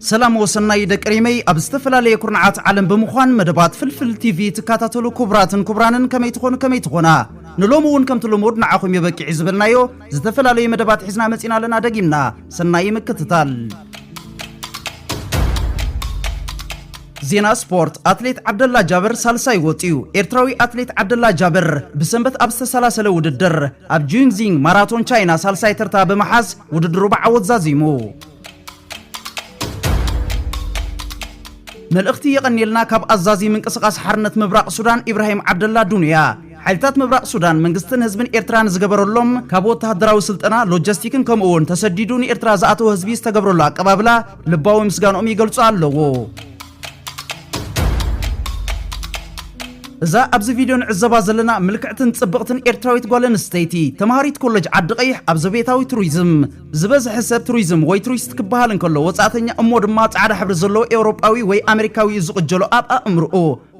ሰላም ወሰናይ ደቂ ሪመይ ኣብ ዝተፈላለየ ኩርናዓት ዓለም ብምዃን መደባት ፍልፍል ቲቪ ትካታተሉ ኩቡራትን ኩቡራንን ከመይ ትኾኑ ከመይ ትኾና ንሎሚ እውን ከምቲ ልሙድ ንዓኹም እዩ በቂዒ ዝበልናዮ ዝተፈላለዩ መደባት ሒዝና መጺና ኣለና ደጊምና ሰናይ ምክትታል ዜና ስፖርት ኣትሌት ዓብደላ ጃብር ሳልሳይ ወፂኡ ኤርትራዊ ኣትሌት ዓብደላ ጃብር ብሰንበት ኣብ ዝተሰላሰለ ውድድር ኣብ ጁንዚንግ ማራቶን ቻይና ሳልሳይ ተርታ ብምሓዝ ውድድሩ ብዓወት ዛዚሙ መልእኽቲ የቐንየልና ካብ ኣዛዚ ምንቅስቓስ ሓርነት ምብራቕ ሱዳን ኢብራሂም ዓብደላ ዱንያ ሓይልታት ምብራቕ ሱዳን መንግስትን ህዝብን ኤርትራ ንዝገበረሎም ካብ ወተሃደራዊ ስልጠና ሎጂስቲክን ከምኡ እውን ተሰዲዱ ንኤርትራ ዝኣተወ ህዝቢ ዝተገብረሉ ኣቀባብላ ልባዊ ምስጋንኦም ይገልጹ ኣለዎ እዛ ኣብዚ ቪድዮ ንዕዘባ ዘለና ምልክዕትን ጽብቕትን ኤርትራዊት ጓል ኣንስተይቲ ተምሃሪት ኮለጅ ዓዲ ቀይሕ ኣብ ዘቤታዊ ቱሪዝም ዝበዝሐ ሰብ ቱሪዝም ወይ ቱሪስት ክበሃል እንከሎ ወጻእተኛ እሞ ድማ ጻዕዳ ሕብሪ ዘለዎ ኤውሮጳዊ ወይ ኣመሪካዊ እዩ ዝቕጀሎ ኣብ ኣእምርኡ።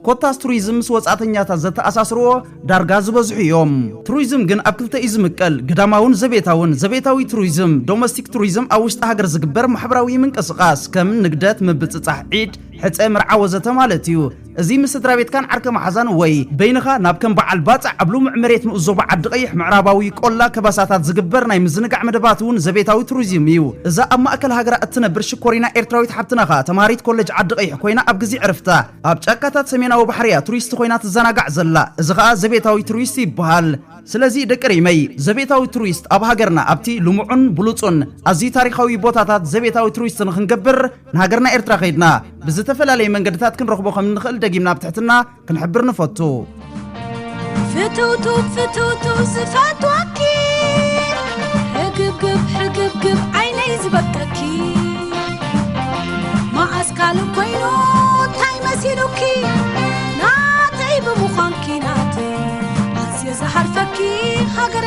ኮታስ ቱሪዝም ምስ ወጻእተኛታት ዘተኣሳስርዎ ዳርጋ ዝበዝሑ እዮም። ቱሪዝም ግን ኣብ ክልተ እዩ ዝምቀል፣ ግዳማውን ዘቤታውን። ዘቤታዊ ቱሪዝም፣ ዶመስቲክ ቱሪዝም፣ ኣብ ውሽጢ ሃገር ዝግበር ማሕበራዊ ምንቅስቓስ፣ ከም ንግደት፣ ምብጽጻሕ ዒድ፣ ሕጸ፣ መርዓ ወዘተ ማለት እዩ። እዚ ምስ ስድራቤትካን ዓርከ መሓዛን ወይ በይንኻ ናብ ከም በዓል ባጽዕ ኣብ ልሙዕ መሬት ንኡስ ዞባ ዓዲ-ቐይሕ፣ ምዕራባዊ ቆላ ከበሳታት ዝግበር ናይ ምዝንጋዕ መደባት እውን ዘቤታዊ ቱሪዝም እዩ። እዛ ኣብ ማእከል ሃገራ እትነብር ሽኮሪና ኤርትራዊት ሓብትና ከኣ ተማሃሪት ኮለጅ ዓዲ-ቐይሕ ኮይና ኣብ ግዜ ዕረፍታ ኣብ ጫካታት ሰሜናዊ ባሕሪ እያ ቱሪስት ኮይና ትዘናጋዕ ዘላ። እዚ ከኣ ዘቤታዊ ቱሪስት ይበሃል። ስለዚ ደቂ ሪመይ ዘቤታዊ ቱሪስት ኣብ ሃገርና ኣብቲ ልሙዑን ብሉጹን ኣዝዩ ታሪኻዊ ቦታታት ዘቤታዊ ቱሪስት ንኽንገብር፣ ንሃገርና ኤርትራ ከይድና ብዝተፈላለየ መንገድታት ክንረኽቦ ከም እንኽእል ደጊምና ብትሕትና ክንሕብር ንፈቱ ፍትውቱ ፍትውቱ ዝፈትወኪ ሕግብግብ ሕግብግብ ዓይነይ ዝበቀኪ መዓስ ካልእ ኮይኑ እንታይ መሲሉኪ ናተይ ብምዃንኪ ናተይ ኣዝየ ዝሃርፈኪ ሃገረ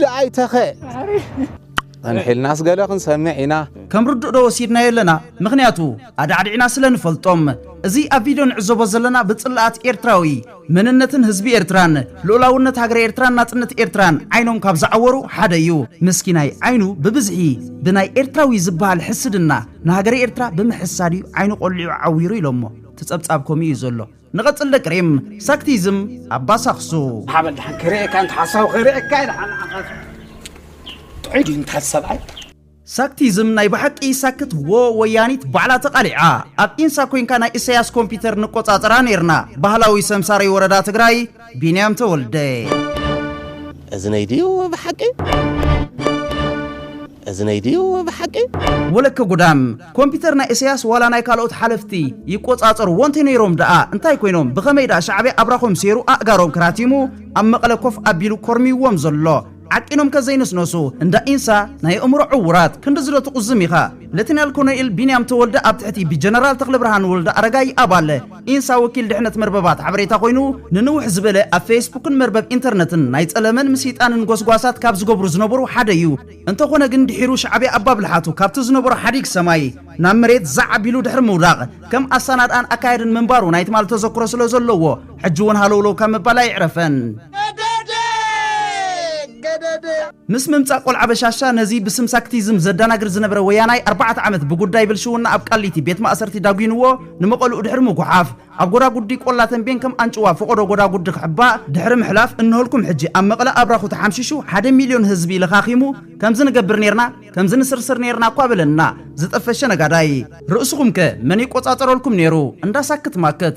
ደኣይ ተኸ ጸንሒልናስ ገለ ክንሰምዕ ኢና። ከም ርዱእ ዶ ወሲድናዮ ኣለና ምኽንያቱ ኣዳዕዲዕና ስለ ንፈልጦም። እዚ ኣብ ቪድዮ ንዕዘቦ ዘለና ብጽላኣት ኤርትራዊ መንነትን ህዝቢ ኤርትራን ልኡላውነት ሃገረ ኤርትራን ናጽነት ኤርትራን ዓይኖም ካብ ዝዓወሩ ሓደ እዩ። ምስኪናይ ዓይኑ ብብዝሒ ብናይ ኤርትራዊ ዝበሃል ሕስድና ንሃገረ ኤርትራ ብምሕሳድ እዩ ዓይኑ ቆሊዑ ዓዊሩ ኢሎሞ። እቲ ጸብጻብ ከምኡ እዩ ዘሎ። ንቐጽል ደቂ ሪም፣ ሳክቲዝም ኣባ ሳክሱ። ሓበን ድሓን ክርእየካ እንተ ሓሳዊ ክርእየካ ኢለ ሓናዓኻት ጥዑይ ድዩ እንተ ሰብኣይ ሳክቲዝም ናይ ብሓቂ ሳክት ዎ ወያኒት ባዕላ ተቃሊዓ ኣብ ኢንሳ ኮንካ ናይ እሰያስ ኮምፒተር ንቆጻጸራ ኔርና ባህላዊ ሰምሳሪ ወረዳ ትግራይ ቢንያም ተወልደ። እዝነይ ድዩ ብሓቂ? እዝነይ ድዩ ብሓቂ? ወለከ ጉዳም! ኮምፒተር ናይ እሰያስ ዋላ ናይ ካልኦት ሓለፍቲ ይቆጻጸርዎ እንተ ነይሮም ደኣ እንታይ ኮይኖም ብኸመይ ደኣ ሻዕብያ ኣብራኾም ሰይሩ ኣእጋሮም ክራቲሙ ኣብ መቐለ ኮፍ ኣቢሉ ኮርምይዎም ዘሎ? ዓቂኖም ከዘይንስነሱ እንዳ ኢንሳ ናይ ኣእምሮ ዕውራት ክንድዚ ዶ ትቁዝም ኢኻ ለትናል ኮኖኤል ቢንያም ተወልደ ኣብ ትሕቲ ብጀነራል ተኽለብርሃን ወልደኣረጋይ ኣባል ኢንሳ ወኪል ድሕነት መርበባት ሓበሬታ ኮይኑ ንንውሕ ዝበለ ኣብ ፌስቡክን መርበብ ኢንተርነትን ናይ ጸለመን ምስይጣንን ጎስጓሳት ካብ ዝገብሩ ዝነበሩ ሓደ እዩ እንተኾነ ግን ድሒሩ ሻዕብያ ኣባብልሓቱ ካብቲ ዝነበሮ ሓዲግ ሰማይ ናብ መሬት ዛዕ ኣቢሉ ድሕሪ ምውዳቕ ከም ኣሳናድኣን ኣካያድን ምንባሩ ናይ ትማል ተዘክሮ ስለዘለዎ ሕጂ እውን ሃለውለው ካብ ምባል ኣይዕረፈን። ምስ ምምጻእ ቆልዓ በሻሻ ነዚ ብስም ሳክቲዝም ዘዳናግር ዝነበረ ወያናይ ኣርባዕተ ዓመት ብጉዳይ ብልሽውና ኣብ ቃሊቲ ቤት ማእሰርቲ ዳጒንዎ ንመቐልኡ ድሕሪ ምጉሓፍ ኣብ ጎዳጉዲ ቆላ ተምቤን ከም ኣንጭዋ ፈቖዶ ጎዳጉዲ ክሕባእ ድሕሪ ምሕላፍ እንሆልኩም ሕጂ ኣብ መቐለ ኣብራኹ ተሓምሺሹ ሓደ ሚልዮን ህዝቢ ለኻኺሙ ከምዚ ንገብር ኔርና ከምዚ ንስርስር ኔርና እኳ በለና ዝጠፈሸ ነጋዳይ ርእስኹም ከ መን ይቆጻጸረልኩም ኔሩ እንዳ ሳክት ማክት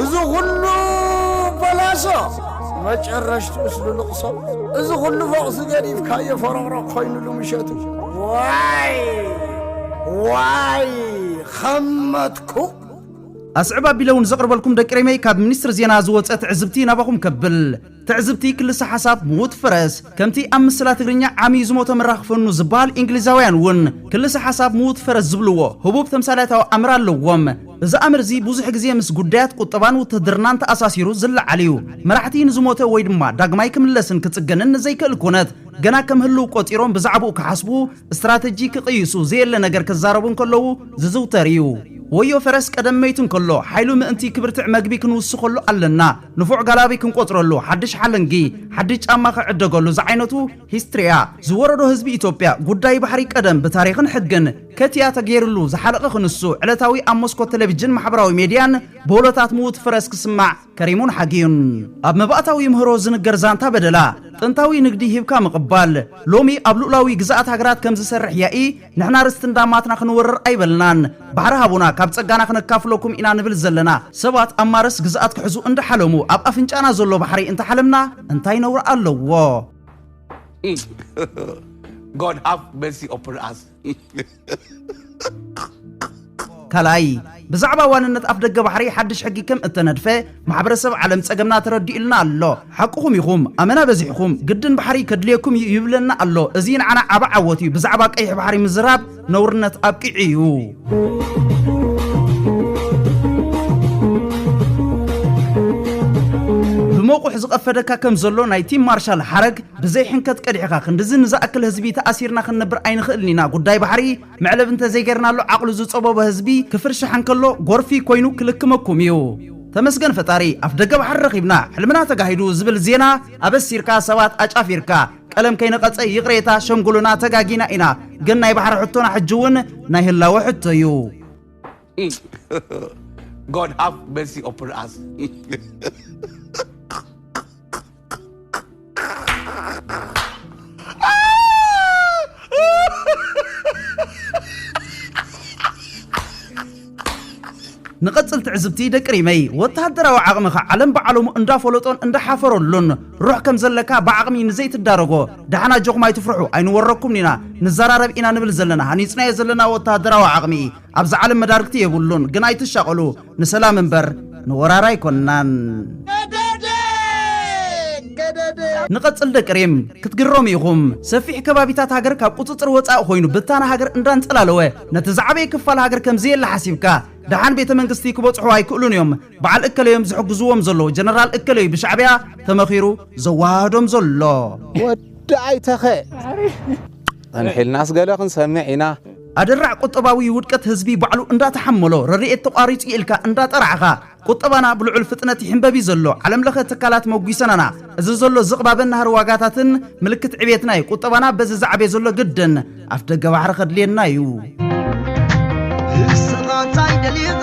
እዚ ኹሉ በላሶ መጨረሽትኡስ ልልቕሶ እዚ ኹሉ ፎቕ ዝገዲፍካዮ ፈረቕረቕ ኾይኑሉ ምሸቱ ዋይ ዋይ ኸመትኩ ኣስዕብ ኣቢለ እውን ዘቕርበልኩም ደቂ ሪመይ ካብ ሚኒስትሪ ዜና ዝወፀ ትዕዝብቲ ናባኹም ከብል። ትዕዝብቲ ክልሰ ሓሳብ ምዉት ፈረስ ከምቲ ኣብ ምስላ ትግርኛ ዓምዩ ዝሞተ ምራኽ ፈኑ ዝበሃል ኢንግሊዛውያን እውን ክልሰ ሓሳብ ምዉት ፈረስ ዝብልዎ ህቡብ ተምሳሌታዊ ኣምር ኣለዎም። እዚ ኣምር እዚ ብዙሕ ግዜ ምስ ጉዳያት ቁጠባን ውትህድርናን ተኣሳሲሩ ዝለዓል እዩ። መራሕቲ ንዝሞተ ወይ ድማ ዳግማይ ክምለስን ክጽገንን ንዘይክእል ኩነት ገና ከም ህልው ቆጺሮም ብዛዕብኡ ክሓስቡ፣ እስትራተጂ ክቕይሱ፣ ዘየለ ነገር ክዛረቡ እንከለዉ ዝዝውተር እዩ። ወዮ ፈረስ ቀደም መይቱ እንከሎ ሓይሉ ምእንቲ ክብርትዕ መግቢ ክንውስኸሉ ኣለና። ንፉዕ ጋላቢ ክንቆጽረሉ ሓድሽ ሓለንጊ ሓድሽ ጫማ ክዕደገሉ ዝዓይነቱ ሂስትሪያ ዝወረዶ ህዝቢ ኢትዮጵያ ጉዳይ ባሕሪ ቀደም ብታሪኽን ሕግን ከቲያ ተገይርሉ ዝሓለቐ ክንሱ ዕለታዊ ኣብ ሞስኮት ተለቪጅን ማሕበራዊ ሜድያን ብወሎታት ምዉት ፍረስ ክስማዕ ከሪሙን ሓጊዩን ኣብ መባእታዊ ይምህሮ ዝንገር ዛንታ በደላ ጥንታዊ ንግዲ ሂብካ ምቕባል ሎሚ ኣብ ሉኡላዊ ግዝኣት ሃገራት ከምዝሰርሕ ያኢ ንሕና ርስቲ እንዳማትና ክንወርር ኣይበልናን ባሕሪ ሃቡና ካብ ጸጋና ክነካፍሎኩም ኢና ንብል ዘለና ሰባት ኣብ ማረስ ግዝኣት ክሕዙ እንዳሓለሙ ኣብ ኣፍንጫና ዘሎ ባሕሪ እንተሓለምና እንታይ ነውሪ ኣለዎ። God have mercy upon us ካልኣይ፣ ብዛዕባ ዋንነት ኣፍደገ ባሕሪ ሓድሽ ሕጊ ከም እተነድፈ ማሕበረሰብ ዓለም ጸገምና ተረዲኡልና ኣሎ። ሓቅኹም ኢኹም፣ ኣመና በዚሕኩም፣ ግድን ባሕሪ ከድልየኩም እዩ ይብለና ኣሎ። እዚ ንዓና ዓቢ ዓወት እዩ፣ ብዛዕባ ቀይሕ ባሕሪ ምዝራብ ነውርነት ኣብቂዑ እዩ። ብመቑሕ ዝቐፈደካ ከም ዘሎ ናይ ቲም ማርሻል ሓረግ፣ ብዘይ ሕንከት ቀዲሕኻ፣ ክንድዚ ንዝኣክል ህዝቢ ተኣሲርና ክንነብር ኣይንኽእልን ኢና፣ ጉዳይ ባሕሪ መዕለቢ እንተዘይገርናሉ ዓቕሉ ዝጸበቦ ህዝቢ ክፍርሽሕ እንከሎ ጎርፊ ኮይኑ ክልክመኩም እዩ። ተመስገን ፈጣሪ ኣፍደገ ባሕሪ ረኺብና ሕልምና ተጋሂዱ ዝብል ዜና ኣበሲርካ ሰባት ኣጫፊርካ ቀለም ከይነቐጸ ይቕሬታ ሸምጉሉና ተጋጊና ኢና ግን ናይ ባሕሪ ሕቶና ሕጂ ውን ናይ ህላወ ሕቶ እዩ። God have mercy upon us. ንቐፅል ትዕዝብቲ ደቂ ሪመይ ወተሃደራዊ ዓቕምኻ ዓለም ብዓለሙ እንዳፈለጦን እንዳሓፈረሉን ሩሕ ከም ዘለካ ብዓቕሚ ንዘይትዳረጎ ደሓና ጆኹም ኣይትፍርሑ ኣይንወረኩም ኢና ንዘራረብ ኢና ንብል ዘለና ሃኒፅናዮ ዘለና ወተሃደራዊ ዓቕሚ ኣብዚ ዓለም መዳርግቲ የብሉን ግን ኣይትሻቀሉ ንሰላም እምበር ንወራር ኣይኮናን። ንቐጽል ደቂ ሪም ክትግረሙ ኢኹም ሰፊሕ ከባቢታት ሃገር ካብ ቁጽጽር ወጻኢ ኮይኑ ብታና ሃገር እንዳንጸላለወ ነቲ ዝዓበየ ክፋል ሃገር ከም ዘየለ ሓሲብካ ደሓን ቤተ መንግስቲ ክበጽሑ ኣይክእሉን እዮም በዓል እከለዮም ዝሕግዝዎም ዘሎ ጀነራል እከለዩ ብሻዕብያ ተመኺሩ ዘወሃህዶም ዘሎ ወዲ ኣይተኸ ጸንሒልና ስገለ ክንሰምዕ ኢና ኣደራዕ ቁጠባዊ ውድቀት ህዝቢ ባዕሉ እንዳተሓመሎ ረድኤት ተቋሪጹ ኢልካ እንዳጠራዕኻ ቁጠባና ብልዑል ፍጥነት ይሕንበብዩ ዘሎ ዓለም ለኸ ትካላት መጒሰናና እዚ ዘሎ ዝቕባበ ናህሪ ዋጋታትን ምልክት ዕቤትናዩ ቁጠባና በዚ ዝዓቤ ዘሎ ግድን ኣፍ ደገ ባሕሪ ከድልየናዩ እስኻ ታይ ደሊኻ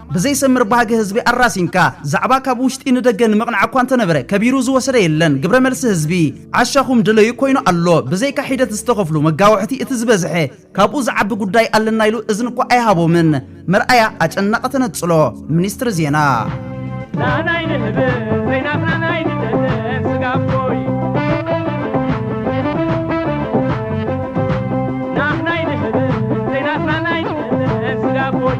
ብዘይሰምር ባህጊ ህዝቢ ኣራሲንካ ዛዕባ ካብ ውሽጢ ንደገ ንምቕናዕ እኳ እንተነበረ ከቢሩ ዝወሰደ የለን ግብረ መልሲ ህዝቢ ዓሻኹም ድለዩ ኮይኑ ኣሎ ብዘይካ ሒደት ዝተኸፍሉ መጋውሕቲ እቲ ዝበዝሐ ካብኡ ዝዓቢ ጉዳይ ኣለና ኢሉ እዝኒ እኳ ኣይሃቦምን መርኣያ ኣጨናቒ ተነጽሎ ሚኒስትሪ ዜና ናናይ ንህብ ዘይናትና ናይ ንደለን ስጋቦይ ናህናይ ንህብ ዘይናትና ናይ ንደለን ስጋቦይ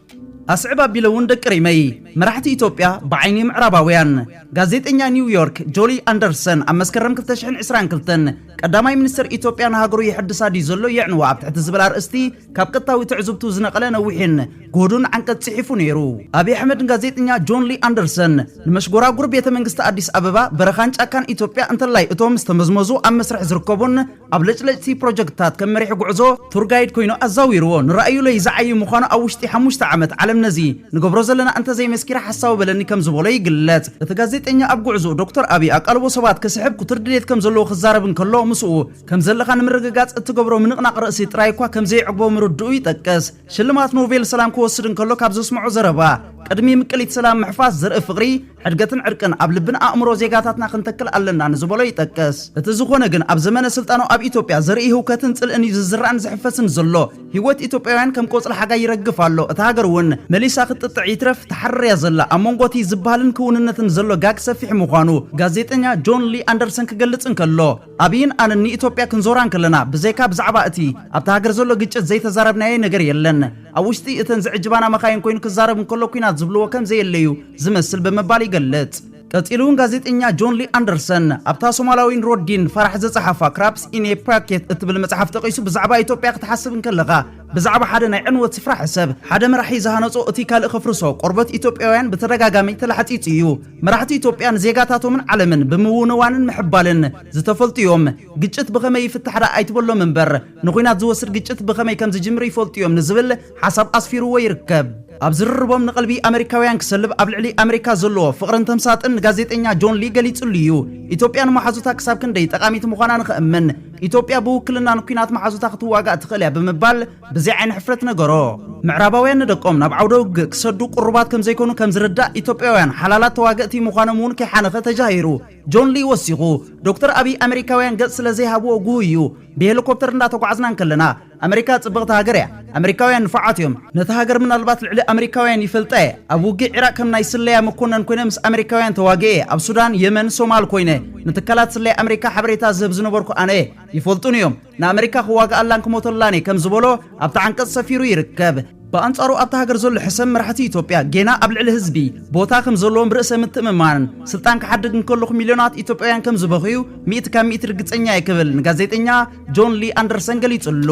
ኣስዕብ ኣቢለ እውን ደቂ ሪመይ መራሕቲ ኢትዮጵያ ብዓይኒ ምዕራባውያን። ጋዜጠኛ ኒው ዮርክ ጆሊ ኣንደርሰን ኣብ መስከረም ክልተ ሽሕን ዕስራን ክልተን ቀዳማይ ሚኒስተር ኢትዮጵያ ንሃገሩ የሐድሳ ድዩ ዘሎ የዕንዋ ኣብ ትሕቲ ዝብል ኣርእስቲ ካብ ቀጥታዊ ትዕዝብቱ ዝነቐለ ነዊሕን ግሁዱን ዓንቀጽ ጽሒፉ ነይሩ። ኣብይ ኣሕመድ ንጋዜጠኛ ጆን ሊ ኣንደርሰን ንመሽጎራጉር ቤተ መንግስቲ ኣዲስ ኣበባ፣ በረኻን ጫካን ኢትዮጵያ እንተላይ እቶም ዝተመዝመዙ ኣብ መስርሕ ዝርከቡን፣ ኣብ ለጭለጭቲ ፕሮጀክትታት ከም መሪሕ ጉዕዞ፣ ቱር ጋይድ፣ ኮይኑ ኣዛዊርዎ። ንራእዩለይ ዝዓዪ ምዃኑ ኣብ ውሽጢ ሓሙሽተ ዓመት ዓለም ነዚ ንገብሮ ዘለና እንተዘይመስኪራ ሓሳዊ በለኒ ከም ዝበሎ ይግለጽ። እቲ ጋዜጠኛ ኣብ ጉዕዝኡ ዶክተር ኣብይ ኣቃልቦ ሰባት ክስሕብ ክቱር ድሌት ከም ዘለዎ ክዛረብ እንከሎ ምስኡ ከም ዘለኻ ንምርግጋጽ እትገብሮ ምንቕናቕ ርእሲ ጥራይ እኳ ከም ዘየዕግቦ ምርድኡ ይጠቅስ። ሽልማት ኖቬል ሰላም ክወስድ እንከሎ ካብ ዘስምዖ ዘረባ ቅድሚ ምቅሊት ሰላም ምሕፋስ ዘርኢ ፍቕሪ ሕድገትን ዕርቅን ኣብ ልብን ኣእምሮ ዜጋታትና ክንተክል ኣለና ንዝበሎ ይጠቅስ። እቲ ዝኾነ ግን ኣብ ዘመነ ስልጣኑ ኣብ ኢትዮጵያ ዘርኢ ህውከትን ጽልእን እዩ ዝዝራእን ዝሕፈስን ዘሎ። ህይወት ኢትዮጵያውያን ከም ቆጽሊ ሓጋይ ይረግፍ ኣሎ። እታ ሃገር እውን መሊሳ ክትጥጥዕ ይትረፍ ትሓርር እያ ዘላ። ኣብ መንጎ እቲ ዝበሃልን ክውንነትን ዘሎ ጋግ ሰፊሕ ምዃኑ ጋዜጠኛ ጆን ሊ ኣንደርሰን ክገልጽ እንከሎ፣ ኣብይን ኣነን ንኢትዮጵያ ክንዞራ እንከለና ብዘይካ ብዛዕባ እቲ ኣብታ ሃገር ዘሎ ግጭት ዘይተዛረብናዬ ነገር የለን። ኣብ ውሽጢ እተን ዝዕጅባና መኻይን ኮይኑ ክዛረብ እንከሎ ኲናት ዝብልዎ ከም ዘየለ እዩ ዝመስል ብምባል ይገልጽ። ቀጺሉ እውን ጋዜጠኛ ጆን ሊ ኣንደርሰን ኣብታ ሶማላዊን ሮዲን ፋራሕ ዘጸሓፋ Crabs in a Bucket እትብል መጽሓፍ ጠቒሱ ብዛዕባ ኢትዮጵያ ክትሓስብ እንከለኻ ብዛዕባ ሓደ ናይ ዕንወት ስፍራ ሕሰብ። ሓደ መራሒ ዝሃነጾ እቲ ካልእ ከፍርሶ፣ ቆርበት ኢትዮጵያውያን ብተደጋጋሚ ተላሕጺጹ እዩ። መራሕቲ ኢትዮጵያ ንዜጋታቶምን ዓለምን ብምውንዋንን ምሕባልን ዝተፈልጡ እዮም። ግጭት ብኸመይ ይፍታሕ ደኣ ኣይትበሎም እምበር፣ ንኹናት ዝወስድ ግጭት ብኸመይ ከም ዝጅምር ይፈልጡ እዮም ንዝብል ሓሳብ ኣስፊርዎ ይርከብ። ኣብ ዝርርቦም ንቐልቢ ኣመሪካውያን ክሰልብ ኣብ ልዕሊ ኣመሪካ ዘለዎ ፍቕርን ተምሳጥን ንጋዜጠኛ ጆን ሊ ገሊጽሉ እዩ። ኢትዮጵያ ንመሓዙታ ክሳብ ክንደይ ጠቓሚት ምዃና ንኸእምን፣ ኢትዮጵያ ብውክልና ንኲናት መሓዙታ ክትዋጋእ ትኽእል እያ ብምባል ብዘይ ዓይኒ ሕፍረት ነገሮ። ምዕራባውያን ንደቆም ናብ ዓውደ ውግእ ክሰዱ ቅሩባት ከም ዘይኮኑ ከም ዝርዳእ ኢትዮጵያውያን ሓላላት ተዋገእቲ ምዃኖም እውን ከይሓነኸ ተጃሂሩ። ጆን ሊ ወሲኹ፣ ዶክተር ኣቢይ ኣመሪካውያን ገጽ ስለ ዘይሃብዎ ግሁይ እዩ። ብሄሊኮፕተር እንዳተጓዓዝና እንከለና፣ ኣመሪካ ጽብቕቲ ሃገር እያ። ኣመሪካውያን ንፉዓት እዮም። ነታ ሃገር ምናልባት ልዕሊ ኣመሪካውያን ይፈልጣ እየ። ኣብ ውግእ ዒራቕ ከም ናይ ስለያ መኮነን ኮይነ ምስ ኣመሪካውያን ተዋጊኤ እየ። ኣብ ሱዳን፣ የመን፣ ሶማል ኮይነ ንትካላት ስለያ ኣመሪካ ሓበሬታ ዝህብ ዝነበርኩ ኣነ እየ። ይፈልጡኒ እዮም። ንኣመሪካ ክዋግኣላን ክሞተላን እየ ከም ዝበሎ ኣብቲ ዓንቀጽ ሰፊሩ ይርከብ። ብኣንጻሩ ኣብታ ሃገር ዘሎ ሕሰም መራሕቲ ኢትዮጵያ ጌና ኣብ ልዕሊ ህዝቢ ቦታ ከም ዘለዎም ርእሰ ምትእምማንን ስልጣን ክሓድግ እንከሎ ሚልዮናት ኢትዮጵያውያን ከም ዝበኽዩ ሚእቲ ካብ ሚእቲ ርግጸኛ እየ ክብል ንጋዜጠኛ ጆን ሊ ኣንደርሰን ገሊጹሉ።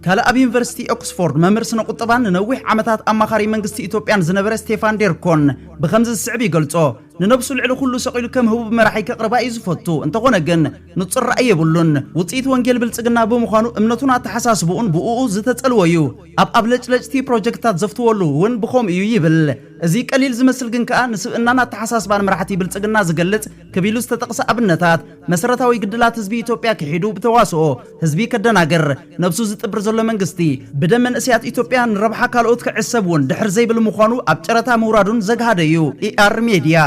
ካልእ ኣብ ዩኒቨርሲቲ ኦክስፎርድ መምህር ስነ ቁጠባን ንነዊሕ ዓመታት ኣማኻሪ መንግስቲ ኢትዮጵያን ዝነበረ ስቴፋን ዴርኮን ብከምዚ ዝስዕብ ይገልጾ ንነብሱ ልዕሊ ኩሉ ሰቂሉ ከም ህቡብ መራሒ ከቕርባ እዩ ዝፈቱ እንተኾነ ግን ንጹር ራእይ የብሉን ውጽኢት ወንጌል ብልጽግና ብምዃኑ እምነቱን ኣተሓሳስብኡን ብእኡ ዝተጸልወ እዩ ኣብ ኣብለጭለጭቲ ፕሮጀክትታት ዘፍትወሉ እውን ብኸምኡ እዩ ይብል። እዚ ቀሊል ዝመስል ግን ከኣ ንስብእናን ኣተሓሳስባን መራሕቲ ብልጽግና ዝገልጽ ክብ ኢሉ ዝተጠቕሰ ኣብነታት፣ መሰረታዊ ግድላት ህዝቢ ኢትዮጵያ ክሒዱ ብተዋስኦ ህዝቢ ከደናግር ነብሱ ዝጥብር ዘሎ መንግስቲ፣ ብደም መንእሰያት ኢትዮጵያ ንረብሓ ካልኦት ክዕሰብ እውን ድሕር ዘይብል ምዃኑ ኣብ ጨረታ ምውራዱን ዘግሃደ እዩ። ER Media።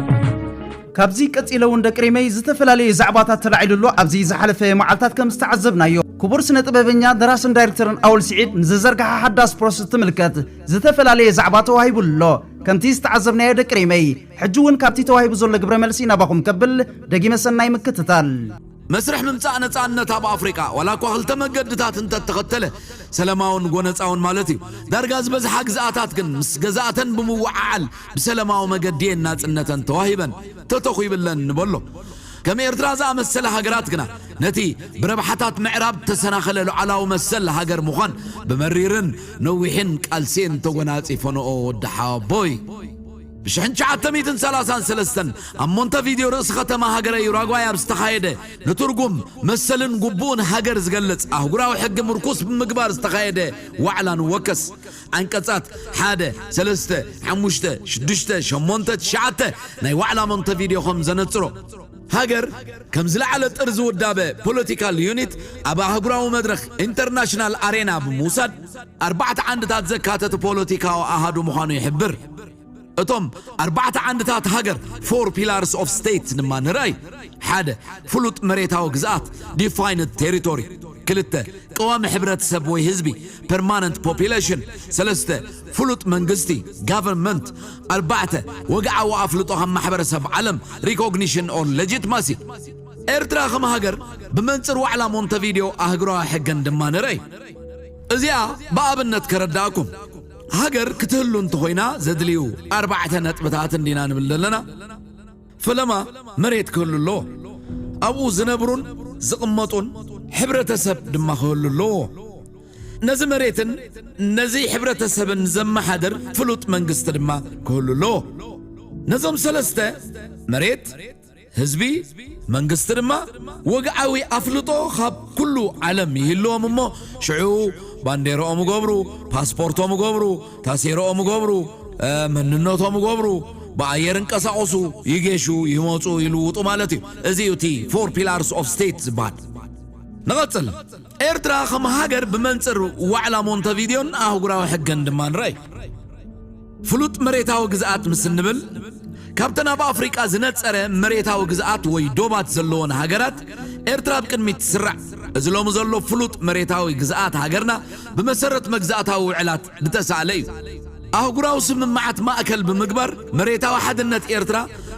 ካብዚ ቀጺለ እውን ደቂ ሪመይ ዝተፈላለየ ዛዕባታት ተላዒሉ ኣሎ። ኣብዚ ዝሓለፈ መዓልታት ከም ዝተዓዘብናዮ ክቡር ስነ ጥበበኛ ደራስን ዳይሬክተርን ኣወል ስዒድ ንዘዘርግሓ ሓዳስ ፕሮስ እትምልከት ዝተፈላለየ ዛዕባ ተዋሂቡሉ ኣሎ። ከምቲ ዝተዓዘብናዮ ደቂ ሪመይ ሕጂ እውን ካብቲ ተዋሂቡ ዘሎ ግብረ መልሲ ናባኹም ከብል ደጊመ ሰናይ ምክትታል። መስርሕ ምምጻእ ነጻነት ኣብ ኣፍሪቃ፣ ዋላ እኳ ክልተ መገድታት እንተተኸተለ፣ ሰለማውን ጎነጻውን ማለት እዩ፣ ዳርጋ ዝበዝሓ ግዝኣታት ግን ምስ ገዛእተን ብምውዓዓል ብሰለማዊ መገዲ እየን ናጽነተን ተዋሂበን፣ ተተኹይብለን ንበሎ። ከም ኤርትራ ዝኣመሰላ ሃገራት ግና ነቲ ብረብሓታት ምዕራብ እተሰናኸለ ሉዓላዊ መሰል ሃገር ምዃን ብመሪርን ነዊሕን ቃልሲ'የን ተጎናጺፈንኦ። ወዲ ሓወቦይ! ብ ሽሕን ትሽዓተ ሚእትን ሰላሳን ሰለስተን ኣብ ሞንተቪድዮ ርእሲ ከተማ ሃገረ ዩራጓይ ኣብ ዝተኻየደ ንትርጉም፣ መሰልን ጉቡእን ሃገር ዝገልጽ ኣህጉራዊ ሕጊ ምርኩስ ብምግባር ዝተኻየደ ዋዕላ ንወከስ ዓንቀጻት ሓደ፣ ሰለስተ፣ ሓሙሽተ፣ ሽዱሽተ፣ ሸሞንተ፣ ትሽዓተ ናይ ዋዕላ ሞንተቪድዮ ከም ዘነጽሮ፣ ሃገር ከም ዝለዓለ ጥርዚ ውዳበ፣ ፖለቲካል ዩኒት፣ ኣብ ኣህጉራዊ መድረኽ፣ ኢንተርናሽናል ኣሬና፣ ብምውሳድ ኣርባዕተ ዓንድታት ዘካተተ ፖለቲካዊ ኣሃዱ ምዃኑ ይሕብር። እቶም ኣርባዕተ ዓንድታት ሃገር ፎር ፒላርስ ኦፍ ስቴት ድማ ንርኣይ ሓደ ፍሉጥ መሬታዊ ግዝኣት ዲፋይንድ ቴሪቶሪ ክልተ ቀዋሚ ሕብረተሰብ ወይ ህዝቢ ፐርማነንት ፖፕሌሽን ሰለስተ ፍሉጥ መንግስቲ ጋቨርንመንት ኣርባዕተ ወግዓዊ ኣፍልጦ ካብ ማሕበረሰብ ዓለም ሪኮግኒሽን ኦር ሌጂትማሲ ኤርትራ ከም ሃገር ብመንፅር ዋዕላ ሞንተቪዲዮ ኣህጉራዊ ሕገን ድማ ንርኣይ እዚኣ ብኣብነት ከረዳእኩም ሃገር ክትህሉ እንተኾይና ዘድልዩ ኣርባዕተ ነጥብታት እንዲና ንብል ዘለና። ፈለማ መሬት ክህሉ ኣለዎ። ኣብኡ ዝነብሩን ዝቕመጡን ሕብረተሰብ ድማ ክህሉ ኣለዎ። ነዚ መሬትን ነዚ ሕብረተሰብን ዘመሓድር ፍሉጥ መንግስቲ ድማ ክህሉ ኣለዎ። ነዞም ሰለስተ፣ መሬት፣ ህዝቢ መንግስቲ ድማ ወግዓዊ ኣፍልጦ ኻብ ኩሉ ዓለም ይህልዎም እሞ ሽዑ ባንዴርኦም እገብሩ፣ ፓስፖርቶም እገብሩ፣ ታሴርኦም እገብሩ፣ መንነቶም እገብሩ፣ ብኣየር እንቀሳቐሱ፣ ይጌሹ፣ ይመጹ፣ ይልውጡ ማለት እዩ። እዚ እዩ እቲ ፎር ፒላርስ ኦፍ ስቴት ዝበሃል። ንቐጽል። ኤርትራ ከም ሃገር ብመንጽር ዋዕላ ሞንተቪድዮን ኣህጉራዊ ሕግን ድማ ንረኣይ። ፍሉጥ መሬታዊ ግዝኣት ምስ እንብል ካብተን ኣብ ኣፍሪቃ ዝነጸረ መሬታዊ ግዝኣት ወይ ዶባት ዘለዎን ሃገራት ኤርትራ ኣብ ቅድሚት ትስራዕ። እዚ ሎሚ ዘሎ ፍሉጥ መሬታዊ ግዝኣት ሃገርና ብመሰረት መግዛእታዊ ውዕላት ድተሳእለ እዩ። ኣህጉራዊ ስምምዓት ማእከል ብምግባር መሬታዊ ሓድነት ኤርትራ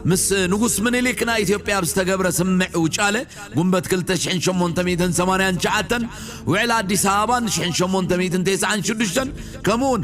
ምስ ንጉስ ምኒሊክ ናይ ኢትዮጵያ ኣብ ዝተገብረ ስምምዕ ውጫለ ጉንበት ክልተ ሽሕን ሸሞንተ ሚእትን ሰማንያን ትሽዓተን፣ ውዕል ኣዲስ ኣበባን ሽሕን ሸሞንተ ሚእትን ቴስዓን ሽዱሽተን ከምኡውን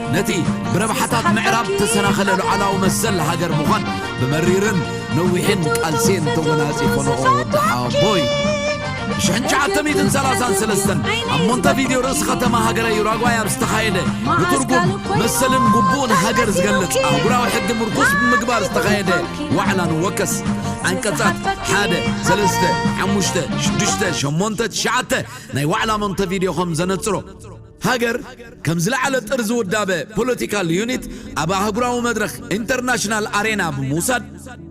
ነቲ ብረብሓታት ምዕራብ እተሰናኸለ ሉዓላዊ መሰል ሃገር ምዃን ብመሪርን ነዊሕን ቃልሲ'የን ተጎናጺፈንኦ። ወዲ ሓወቦይ ብሽሕን ትሽዓተ ሚእትን ሰላሳን ሰለስተን ኣብ ሞንተቪድዮ ርእሲ ከተማ ሃገረ ዩራጓይ ኣብ ዝተኻየደ ንትርጉም መሰልን ግቡእን ሃገር ዝገልጽ ኣህጉራዊ ሕጊ ምርኩስ ብምግባር ዝተኻየደ ዋዕላ ንወከስ ዓንቀጻት ሓደ ሰለስተ ሓሙሽተ ሽዱሽተ ሸሞንተ ትሽዓተ ናይ ዋዕላ ሞንተቪድዮ ከም ዘነጽሮ ሃገር ከም ዝለዓለ ጥርዚ ውዳበ ፖለቲካል ዩኒት ኣብ ኣህጉራዊ መድረኽ ኢንተርናሽናል ኣሬና ብምውሳድ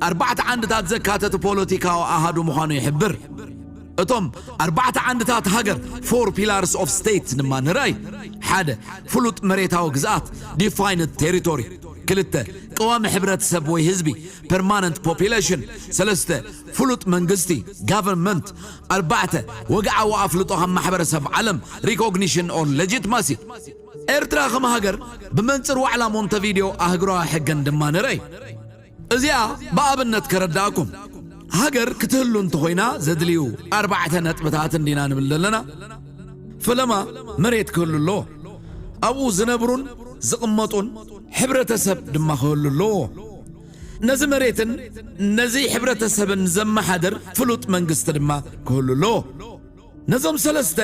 ኣርባዕተ ዓንድታት ዘካተተ ፖለቲካዊ ኣሃዱ ምዃኑ ይሕብር። እቶም ኣርባዕተ ዓንድታት ሃገር፣ Four Pillars of State፣ ድማ ንረኣይ፣ ሓደ። ፍሉጥ መሬታዊ ግዝኣት፣ Defined Territory፣ ክልተ። ቀዋሚ ሕብረተሰብ ወይ ህዝቢ፣ Permanent Population፣ ሰለስተ። ፍሉጥ መንግስቲ፣ Government፣ ኣርባዕተ፣ ወግዓዊ ኣፍልጦ ካብ ማሕበረሰብ ዓለም፣ Recognition or Legitimacy፣ ኤርትራ ከም ሃገር ብመንጽር ዋዕላ ሞንተቪድዮ ኣህጉራዊ ሕግን ድማ ንረይ። እዚኣ ብኣብነት ከረድኣኩም፣ ሃገር ክትህሉ እንተኾይና ዘድልዩ ኣርባዕተ ነጥብታት እንዲና ንብል ዘለና፣ ፈለማ መሬት ክህሉ ኣለዎ፣ ኣብኡ ዝነብሩን ዝቕመጡን ሕብረተሰብ ድማ ክህሉ ኣለዎ፣ ነዚ መሬትን ነዚ ሕብረተሰብን ዘመሓድር ፍሉጥ መንግስቲ ድማ ክህሉ ኣለዎ። ነዞም ሰለስተ፣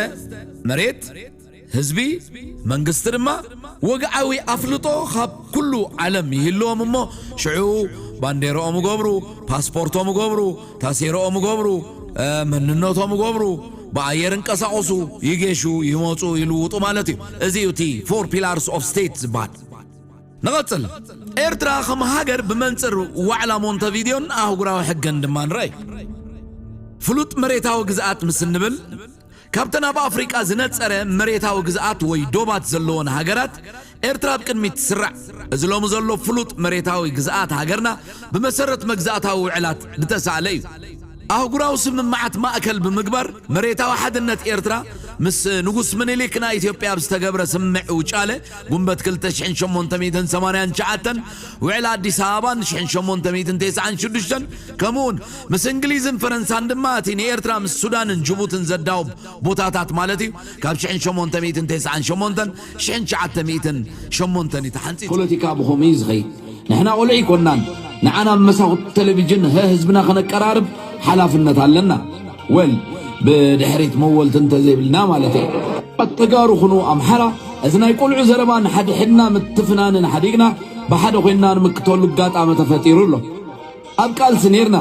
መሬት፣ ህዝቢ፣ መንግስቲ፣ ድማ ወግዓዊ ኣፍልጦ ካብ ኩሉ ዓለም ይህልዎም እሞ ሽዑ ባንዴርኦም እገብሩ፣ ፓስፖርቶም እገብሩ፣ ታሴርኦም እገብሩ፣ መንነቶም እገብሩ፣ ብኣየር እንቀሳቐሱ፣ ይጌሹ፣ ይመጹ፣ ይልውጡ ማለት እዩ። እዚ እዩ እቲ ፎር ፒላርስ ኦፍ ስቴት ዝበሃል። ንቐጽል፣ ኤርትራ ከም ሃገር ብመንጽር ዋዕላ ሞንተቪድዮን ኣህጉራዊ ሕገን ድማ ንረይ። ፍሉጥ መሬታዊ ግዝኣት ምስ እንብል፣ ካብተን ኣብ ኣፍሪቃ ዝነጸረ መሬታዊ ግዝኣት ወይ ዶባት ዘለወን ሃገራት ኤርትራ ኣብ ቅድሚት ትስራዕ። እዚ ሎሚ ዘሎ ፍሉጥ መሬታዊ ግዝኣት ሃገርና ብመሰረት መግዛእታዊ ውዕላት ድተሳእለ እዩ። ኣህጉራዊ ስምምዓት ማእከል ብምግባር መሬታዊ ሓድነት ኤርትራ ምስ ንጉስ ምኒሊክ ናይ ኢትዮጵያ ኣብ ዝተገብረ ስምምዕ ውጫለ ጉንበት ክልተ ሽሕን ሸሞንተ ሚእትን ሰማንያን ትሽዓተን፣ ውዕል ኣዲስ ኣበባ ን ሽሕን ሸሞንተ ሚእትን ቴስዓን ሽዱሽተን፣ ከምኡውን ምስ እንግሊዝን ፈረንሳን ድማ እቲ ንኤርትራ ምስ ሱዳንን ጅቡትን ዘዳውብ ቦታታት ማለት እዩ፣ ካብ ሽሕን ሸሞንተ ሚእትን ቴስዓን ሸሞንተን ሽሕን ትሽዓተ ሚእትን ሸሞንተን እዩ ተሓንጺጹ። ፖለቲካ ብኸምኡ እዩ ዝኸይድ። ንሕና ቆልዑ ኣይኮናን። ንዓና ኣብ መሳኹቲ ተለቪጅን ህ ህዝብና ከነቀራርብ ሓላፍነት ኣለና። ወል ብድሕሪት መወልቲ እንተዘይብልና ማለት እየ። ኣብ ተጋሩ ኹኑ ኣምሓራ እዚ ናይ ቆልዑ ዘረባ ንሓድሕድና ምትፍናንን ሓዲግና ብሓደ ኮይንና ንምክተሉ ኣጋጣሚ ተፈጢሩ ኣሎ። ኣብ ቃልሲ ኔርና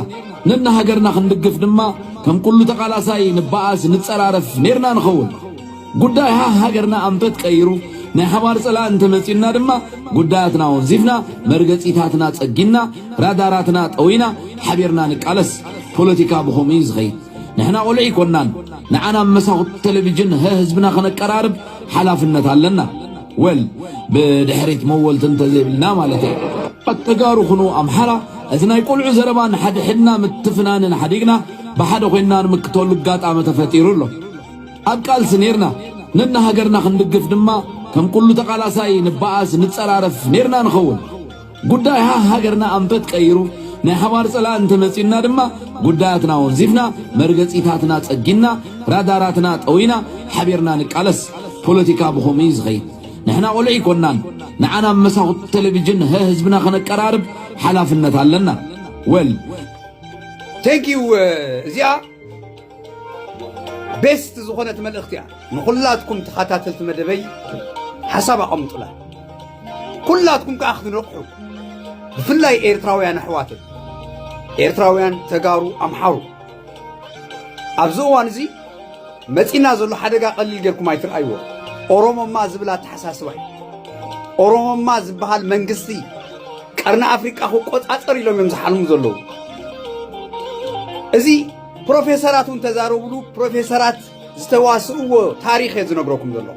ነንሃገርና ክንድግፍ ድማ ከም ኩሉ ተቃላሳይ ንበኣስ ንጸራረፍ ኔርና ንኸውን። ጉዳይ ሃህ ሃገርና ኣንፈት ቀይሩ ናይ ሓባር ጸላእ እንተመጺኡና ድማ ጉዳያትና ወንዚፍና መርገጺታትና ጸጊና ራዳራትና ጠዊና ሓቢርና ንቃለስ። ፖለቲካ ብኸምኡ እዩ ዝኸይድ። ንሕና ቆልዑ ኣይኮናን። ንዓና ኣብ መሳኹቲ ቴሌቪጅን ሀ ህዝብና ከነቀራርብ ሓላፍነት ኣለና። ወል ብድሕሪት መወልቲ እንተዘይብልና ማለት እዩ። ተጋሩ ኩኑ ኣምሓራ እዚ ናይ ቆልዑ ዘረባ ንሓድሕድና ምትፍናንን ሓዲግና ብሓደ ኮይንና ንምክተሉ ኣጋጣሚ ተፈጢሩ ኣሎ። ኣብ ቃልሲ ኔርና ነና ሃገርና ክንድግፍ ድማ ከም ኩሉ ተቃላሳይ ንባኣስ ንጸራረፍ ኔርና ንኸውን ጉዳይ ሃህ ሃገርና ኣንፈት ቀይሩ ናይ ሓባር ጸላእ እንተ መጺኡና ድማ ጉዳያትና ወንዚፍና መርገጺታትና ጸጊና ራዳራትና ጠዊና ሓቢርና ንቃለስ ፖለቲካ ብኸምኡ እዩ ዝኸይድ ንሕና ቆልዑ ኣይኮናን ንዓና ኣብ መሳኹቲ ቴሌቪዥን ሀ ህዝብና ከነቀራርብ ሓላፍነት ኣለና ወል ቴንኪው እዚኣ ቤስት ዝኾነት መልእኽቲ እያ ንኹላትኩም ተኸታተልቲ መደበይ ሓሳብ ኣቐምጡላ ኩላትኩም ከዓ ክትነቕሑ ብፍላይ ኤርትራውያን ኣሕዋተይ ኤርትራውያን ተጋሩ ኣምሓሩ ኣብዚ እዋን እዚ መፂና ዘሎ ሓደጋ ቀሊል ጌርኩም ኣይትርኣይዎ ኦሮሞማ ዝብል ኣተሓሳስባ እዩ ኦሮሞማ ዝበሃል መንግስቲ ቀርኒ ኣፍሪቃ ክቆፃፀር ኢሎም እዮም ዝሓልሙ ዘለዉ እዚ ፕሮፌሰራት እውን ተዛረብሉ ፕሮፌሰራት ዝተዋስእዎ ታሪኽ እየ ዝነግረኩም ዘሎ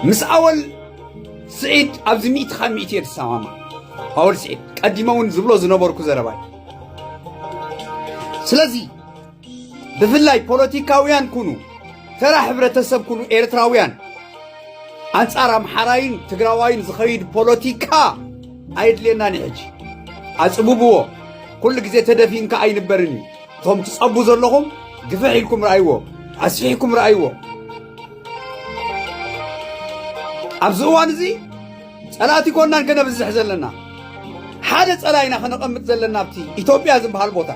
ምስ ኣወል ስዒድ ኣብዚ ሚእቲ ካብ ሚእቲ እየ ዝሰማማ ኣወል ስዒድ ቀዲመ እውን ዝብሎ ዝነበርኩ ዘረባ እዩ ስለዚ ብፍላይ ፖለቲካውያን ኩኑ ተራ ሕብረተሰብ ኩኑ ኤርትራውያን ኣንጻር ኣምሓራይን ትግራዋይን ዝኸይድ ፖለቲካ ኣይድልየናን እዩ ሕጂ ኣፅብብዎ ኩሉ ግዜ ተደፊንካ ኣይንበርን እዩ እቶም ትፀቡ ዘለኹም ግፍሕ ኢልኩም ረኣይዎ ኣስፊሕኩም ረኣይዎ ኣብዚ እዋን እዚ ፀላእቲ ኮናን ከነብዝሕ ዘለና ሓደ ፀላኢና ከነቐምጥ ዘለና ኣብቲ ኢትዮጵያ ዝበሃል ቦታ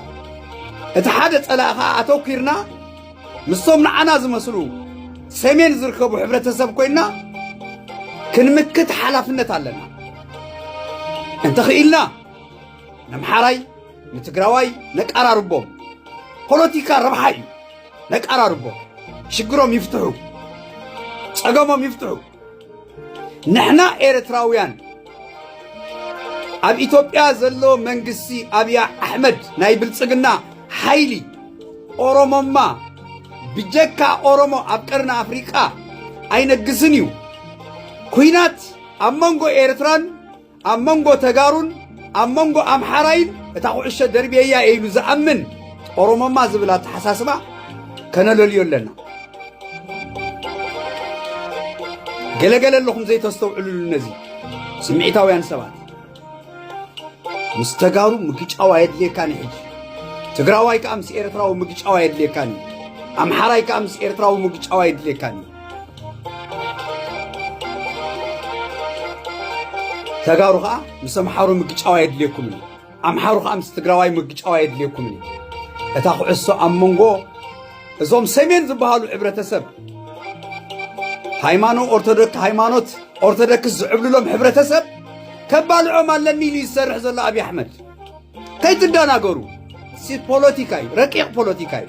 እቲ ሓደ ፀላኢ ከዓ ኣተኲርና ምስቶም ንዓና ዝመስሉ ሰሜን ዝርከቡ ሕብረተሰብ ኮይና ክንምክት ሓላፍነት ኣለና እንተኽኢልና ነምሓራይ ንትግራዋይ ነቃራርቦም ፖለቲካ ረብሓ እዩ ነቃራርቦም ሽግሮም ይፍትሑ ጸገሞም ይፍትሑ ንሕና ኤርትራውያን ኣብ ኢትዮጵያ ዘሎ መንግስቲ ኣብያ ኣሕመድ ናይ ብልጽግና ሓይሊ ኦሮሞማ ብጀካ ኦሮሞ ኣብ ቀርኒ ኣፍሪቃ ኣይነግስን እዩ ኩናት ኣብ መንጎ ኤርትራን ኣብ መንጎ ተጋሩን ኣብ መንጎ ኣምሓራይን እታ ኩዕሾ ደርብየያ እየ ኢሉ ዝኣምን ኦሮሞማ ዝብል ኣተሓሳስባ ከነለልዮ ኣለና። ገለገለ ኣለኹም ዘይተስተውዕልሉ ነዚ ስምዒታውያን ሰባት ምስ ተጋሩ ምግጫው ኣየድልየካን እዩ ሕጂ ትግራዋይ ከዓ ምስ ኤርትራዊ ምግጫው ኣየድልየካን እዩ ኣምሓራይ ከዓ ምስ ኤርትራዊ ምግጫው ኣየድልየካን እዩ ተጋሩ ከዓ ምስ ኣምሓሩ ምግጫው ኣየድልየኩምን እዩ ኣምሓሩ ከዓ ምስ ትግራዋይ ምግጫው ኣየድልየኩምን እዩ እታ ኩዕሶ ኣብ መንጎ እዞም ሰሜን ዝበሃሉ ሕብረተሰብ ሃይማኖ ኦርቶዶክስ ሃይማኖት ኦርቶዶክስ ዝዕብልሎም ሕብረተሰብ ከባልዖም ኣለኒ ኢሉ ዝሰርሕ ዘሎ ኣብዪ ኣሕመድ ከይትደናገሩ ሲ ፖለቲካ እዩ ረቂቕ ፖለቲካ እዩ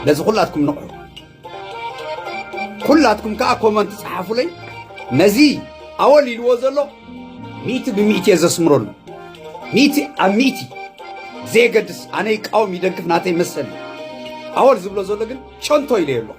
ነዚ ኩላትኩም ንቕሑ ኩላትኩም ከዓ ኮመንት ፀሓፉለይ ነዚ ኣወል ኢልዎ ዘሎ ሚእቲ ብሚእቲ እየ ዘስምረሉ ሚእቲ ኣብ ሚእቲ ዘየገድስ ኣነ ይቃወም ይደግፍ ናተይ መሰል እዩ ኣወል ዝብሎ ዘሎ ግን ጨንቶ ኢለዮ ኣለኹ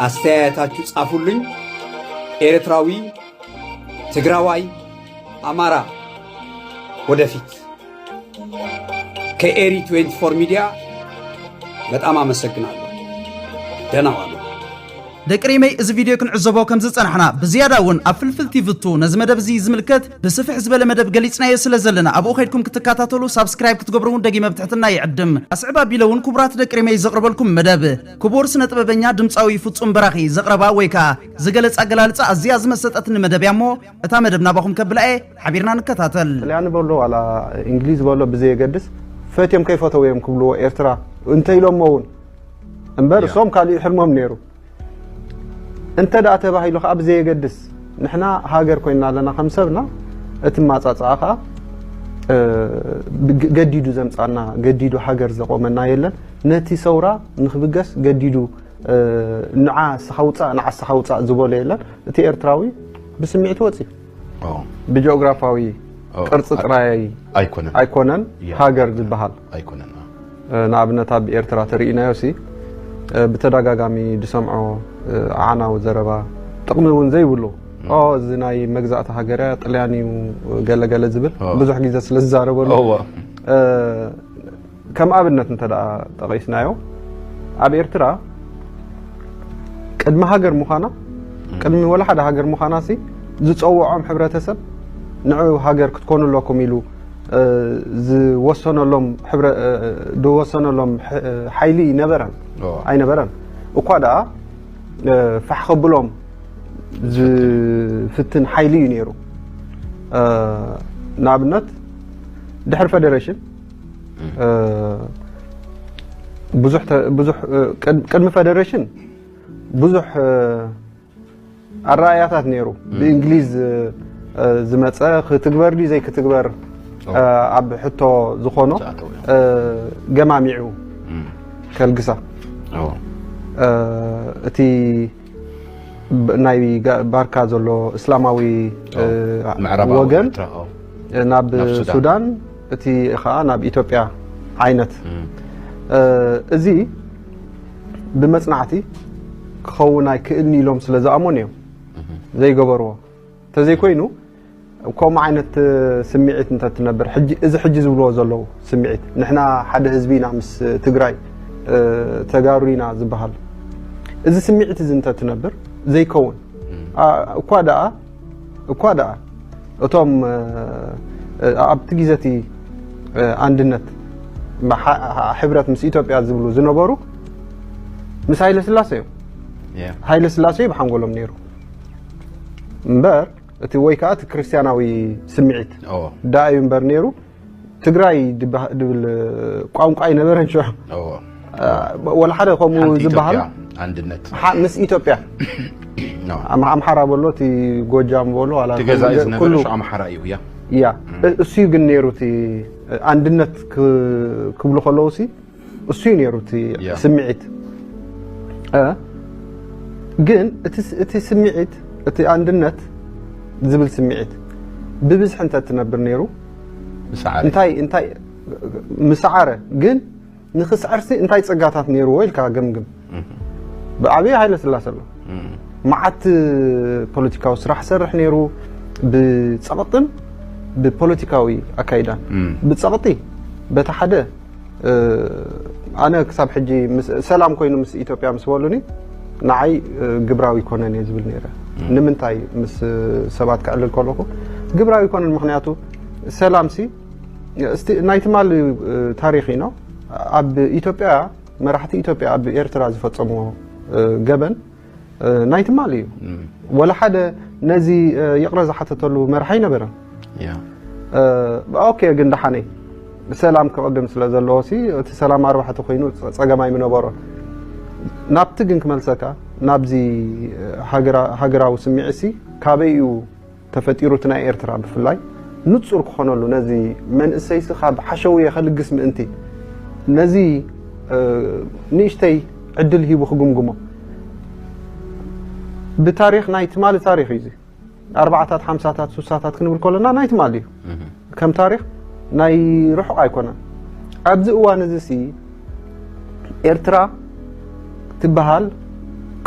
ኣስተያየታችሁ ጻፉልኝ። ኤርትራዊ፣ ትግራዋይ፣ አማራ ወደፊት። ከኤሪ 24 ሚዲያ በጣም አመሰግናለሁ። ደህና ዋሉ። ደቂ ሪመይ እዚ ቪድዮ ክንዕዘቦ ከም ዝጸናሕና ብዝያዳ እውን ኣብ ፍልፍል ቲቪ ቱ ነዚ መደብ እዚ ዝምልከት ብስፍሕ ዝበለ መደብ ገሊጽናዮ ስለ ዘለና ኣብኡ ከድኩም ክትከታተሉ ሳብስክራይብ ክትገብሩ እውን ደጊመ ብትሕትና ይዕድም ኣስዕብ ኣቢለ እውን ክቡራት ደቂ ሪመይ ዘቕርበልኩም መደብ ክቡር ስነጥበበኛ ድምጻዊ ፍጹም በራኺ ዘቕረባ ወይ ከኣ ዝገለጽ ኣገላልጻ ኣዝያ ዝመሰጠትኒ መደብ እያ እሞ እታ መደብ ናባኹም ከብላ እየ ሓቢርና ንከታተል። ጥልያኒ በሎ ዋላ እንግሊዝ በሎ ብዘየገድስ ፈትዮም ከይፈተው እዮም ክብልዎ ኤርትራ እንተኢሎሞ እውን እምበር እሶም ካልእ ሕልሞም ነይሩ እንተ ደኣ ተባሂሉ ከዓ ብዘየገድስ ንሕና ሃገር ኮይና ኣለና ከም ሰብና እቲ ማፃፅኣ ከዓ ገዲዱ ዘምፃና ገዲዱ ሃገር ዘቆመና የለን ነቲ ሰውራ ንክብገስ ገዲዱ ንዓ ንስኻ ውጻእ ንዓ ንስኻ ውጻእ ዝበሎ የለን። እቲ ኤርትራዊ ብስምዒት ወጽዩ ብጂኦግራፋዊ ቅርጺ ጥራይ ኣይኮነን ሃገር ዝበሃል ንኣብነት ኣብ ኤርትራ ተርእናዮሲ ብተደጋጋሚ ዝሰምዖ ዓናዊ ዘረባ ጥቕሚ እውን ዘይብሉ እዚ ናይ መግዛእቲ ሃገር እያ ጥልያን እዩ ገለገለ ዝብል ብዙሕ ግዜ ስለ ዝዛረበሉ ከም ኣብነት እንተ ጠቒስናዮ ኣብ ኤርትራ ቅድሚ ሃገር ምዃና ቅድሚ ወላ ሓደ ሃገር ምዃና ሲ ዝፀውዖም ሕብረተሰብ ንዑ ሃገር ክትኮኑ ኣለኩም ኢሉ ዝወሰነሎም ዝወሰነሎም ሓይሊ ይነበረን ኣይነበረን እኳ ደኣ ፋሕ ከብሎም ዝፍትን ሓይሊ እዩ ነይሩ ንኣብነት ድሕሪ ፌደሬሽን ብዙሕ ብዙሕ ቅድሚ ፈደሬሽን ብዙሕ ኣረኣእያታት ነይሩ ብእንግሊዝ ዝመፀ ክትግበር ድዩ ዘይክትግበር ኣብ ሕቶ ዝኾኖ ገማሚዑ ከልግሳ እቲ ናይ ባርካ ዘሎ እስላማዊ ወገን ናብ ሱዳን እቲ ከዓ ናብ ኢትዮጵያ ዓይነት እዚ ብመፅናዕቲ ክኸውን ኣይክእልኒ ኢሎም ስለ ዝኣመኑ እዮም ዘይገበርዎ ተዘይኮይኑ ከምኡ ዓይነት ስምዒት እንተትነብር ሕጂ እዚ ሕጂ ዝብልዎ ዘለዉ ስምዒት ንሕና ሓደ ህዝቢ ኢና ምስ ትግራይ ተጋሩ ኢና ዝበሃል እዚ ስምዒት እዚ እንተትነብር ዘይከውን እኳ ደኣ እኳ ደኣ እቶም ኣብቲ ግዜ እቲ ኣንድነት ሕብረት ምስ ኢትዮጵያ ዝብሉ ዝነበሩ ምስ ሃይለ ስላሴ እዮም ሃይለ ስላሴ ብሓንጎሎም ነይሩ እምበር እቲ ወይ ከዓ እቲ ክርስቲያናዊ ስምዒት ዳ እዩ እምበር ነይሩ ትግራይ ድብል ቋንቋ ኣይነበረን ሽዑ ወላ ሓደ ከምኡ ዝበሃል ኣንድነት ምስ ኢትዮጵያ ኣምሓራ በሎ እቲ ጎጃም በሎ ገዛኢ ዝነበረ ኣምሓራ እዩ እያ እያ እሱ ግን ነይሩ እቲ ኣንድነት ክብሉ ከለዉ ሲ እሱ እዩ ነይሩ እቲ ስምዒት ግን እቲ ስምዒት እቲ ኣንድነት ዝብል ስምዒት ብብዝሒ እንተ ትነብር ነይሩ እንታይ እንታይ ምስዓረ ግን ንክስዕርሲ እንታይ ፀጋታት ነይርዎ ኢልካ ገምግም ብኣብይ ሃይለስላሰ ኣሎ መዓት ፖለቲካዊ ስራሕ ሰርሕ ነይሩ ብፀቕጥን ብፖለቲካዊ ኣካይዳን ብፀቕጢ በቲ ሓደ ኣነ ክሳብ ሕጂ ሰላም ኮይኑ ምስ ኢትዮጵያ ምስ በሉኒ ንዓይ ግብራዊ ኮነን እየ ዝብል ነይረ ንምንታይ ምስ ሰባት ክዕልል ከለኹ ግብራዊ ኮነን ምክንያቱ ሰላምሲ ናይ ትማሊ ታሪክ ኢኖ ኣብ ኢትዮጵያ መራሕቲ ኢትዮጵያ ኣብ ኤርትራ ዝፈጸምዎ ገበን ናይ ትማሊ እዩ ወላ ሓደ ነዚ ይቕረ ዝሓተተሉ መርሓ ኣይነበረን ኦኬ ግን ደሓነይ ሰላም ክቕድም ስለ ዘለዎ ሲ እቲ ሰላም ኣርባሕቲ ኮይኑ ጸገም ኣይምነበሮን ናብቲ ግን ክመልሰካ ናብዚ ሃገራዊ ስምዒት ሲ ካበይ እዩ ተፈጢሩ እቲ ናይ ኤርትራ ብፍላይ ንጹር ክኾነሉ ነዚ መንእሰይሲ ካብ ሓሸውየ ከልግስ ምእንቲ ነዚ ንእሽተይ ዕድል ሂቡ ክግምግሞ ብታሪኽ ናይ ትማሊ ታሪኽ እዩ ኣርባዓታት ሓምሳታት ሱሳታት ክንብል ከለና ናይ ትማሊ እዩ ከም ታሪኽ ናይ ርሑቕ ኣይኮነን። ኣብዚ እዋን እዚሲ ኤርትራ ትበሃል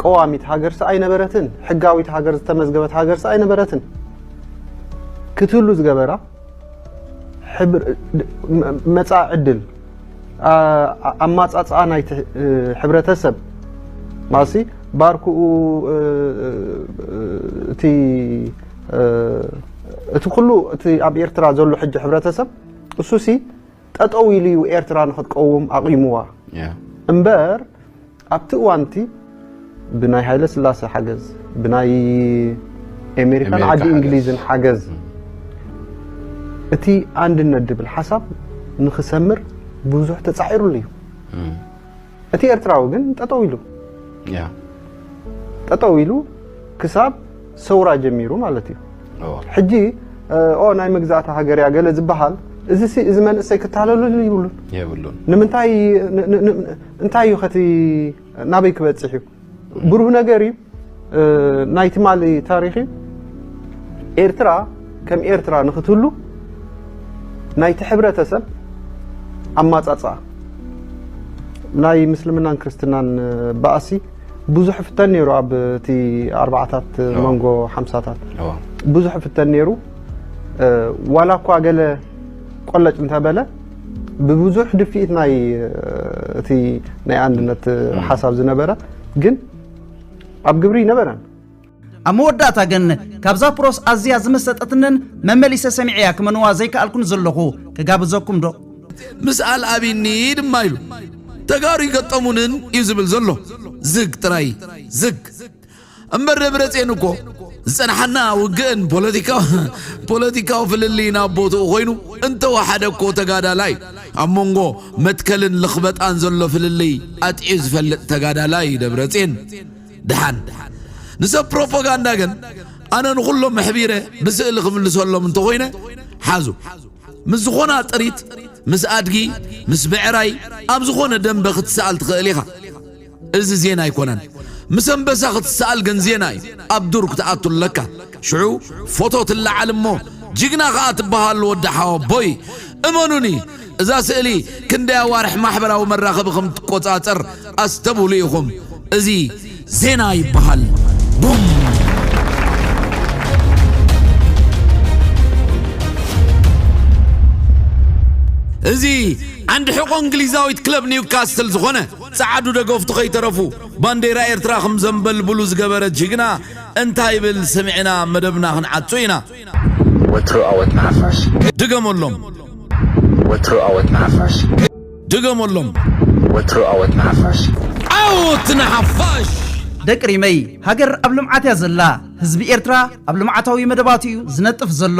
ቀዋሚት ሃገርሲ ኣይነበረትን፣ ሕጋዊት ሃገር ዝተመዝገበት ሃገርሲ ኣይነበረትን ክትህሉ ዝገበራ መጻኢ ዕድል ኣማጻጽኣ ናይቲ ሕብረተሰብ ማሲ ባርኩኡ እቲ እቲ ኩሉ እቲ ኣብ ኤርትራ ዘሎ ሕጂ ሕብረተሰብ እሱሲ ጠጠው ኢሉ እዩ ኤርትራ ንክትቀውም ኣቑምዋ እምበር ኣብቲ እዋንቲ ብናይ ሃይለ ስላሰ ሓገዝ ብናይ ኣሜሪካን ዓዲ እንግሊዝን ሓገዝ እቲ ኣንድነት ድብል ሓሳብ ንክሰምር ብዙሕ ተፃዒሩሉ እዩ እቲ ኤርትራዊ ግን ጠጠው ኢሉ ጠጠው ኢሉ ክሳብ ሰውራ ጀሚሩ ማለት እዩ ሕጂ ኦ ናይ መግዛእቲ ሃገር እያ ገለ ዝበሃል እዚ እዚ መንእሰይ ክታለለሉ ይብሉን የብሉን ንምንታይ እንታይ እዩ ከቲ ናበይ ክበፅሕ እዩ ብሩህ ነገር እዩ ናይ ትማሊ ታሪኽ እዩ ኤርትራ ከም ኤርትራ ንክትህሉ ናይቲ ሕብረተሰብ ኣማጻጽኣ ናይ ምስልምናን ክርስትናን ባእሲ ብዙሕ ፍተን ነይሩ ኣብ እቲ ኣርባዓታት መንጎ ሓምሳታት ብዙሕ ፍተን ነይሩ ዋላ እኳ ገለ ቆለጭ እንተበለ ብብዙሕ ድፍኢት ናይ እቲ ናይ ኣንድነት ሓሳብ ዝነበረ ግን ኣብ ግብሪ ይነበረን ኣብ መወዳእታ ግን ካብዛ ፕሮስ ኣዝያ ዝመሰጠትንን መመሊሰ ሰሚዐያ ክመንዋ ዘይከኣልኩን ዘለኹ ክጋብዘኩም ዶ ምስ ኣልኣቢኒ ድማ ኢሉ ተጋሩ ይገጠሙንን እዩ ዝብል ዘሎ ዝግ ጥራይ ዝግ እምበር ደብረጼን እኮ ዝጸንሓና ውግእን ፖለቲካዊ ፍልልይን ኣብ ቦትኡ ኮይኑ እንተወሓደ እኮ ተጋዳላይ ኣብ መንጎ መትከልን ልኽበጣን ዘሎ ፍልልይ ኣጥዕዩ ዝፈልጥ ተጋዳላይ እዩ ደብረጼን ድሓን ንሰብ ፕሮፓጋንዳ ግን ኣነ ንኹሎም መሕቢረ ብስእሊ ክምልሰሎም እንተኾይነ ሓዙ ምስ ዝኾና ጥሪት ምስ ኣድጊ ምስ ብዕራይ ኣብ ዝኾነ ደንበ ክትሰኣል ትኽእል ኢኻ እዚ ዜና ኣይኮነን ምስ ኣንበሳ ክትሰኣል ግን ዜና እዩ ኣብ ዱር ክትኣቱ ኣለካ ሽዑ ፎቶ ትለዓል እሞ ጅግና ከኣ ትበሃሉ ወዲ ሓወቦይ እመኑኒ እዛ ስእሊ ክንደይ ኣዋርሕ ማሕበራዊ መራኸቢ ከም ትቆጻጸር ኣስተብህሉ ኢኹም እዚ ዜና ይበሃል ቡም እዚ ዓንዲ ሕቆ እንግሊዛዊት ክለብ ኒውካስትል ዝኾነ ጸዓዱ ደገፍቱ ከይተረፉ ባንዴራ ኤርትራ ክም ዘንበልብሉ ዝገበረ ጅግና እንታይ ይብል ስሚዕና መደብና ክንዓጹ ኢና። ወትሩ ኣወት ንሓፋሽ። ድገመሎም። ወትሩ ኣወት ንሓፋሽ። ድገመሎም። ወትሩ ኣወት ንሓፋሽ። ዓወት ንሓፋሽ! ደቂ ሪመይ ሃገር ኣብ ልምዓት እያ ዘላ ህዝቢ ኤርትራ ኣብ ልምዓታዊ መደባቱ እዩ ዝነጥፍ ዘሎ።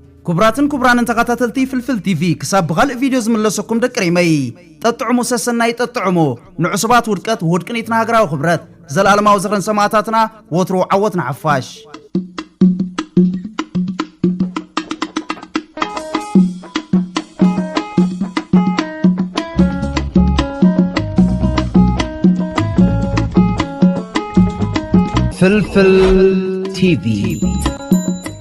ኩቡራትን ኩቡራንን ተኻታተልቲ ፍልፍል ቲቪ ክሳብ ብኻልእ ቪድዮ ዝምለሰኩም ደቂ ሪመይ ጠጥዑሙ ሰሰናዩ ጠጥዑሙ ንዑሱባት ውድቀት ውሁድ ቅኒት ንሃገራዊ ክብረት ዘልኣለማዊ ዝኽሪ ንሰማእታትና ወትሩ ዓወት ንሓፋሽ። ፍልፍል ቲቪ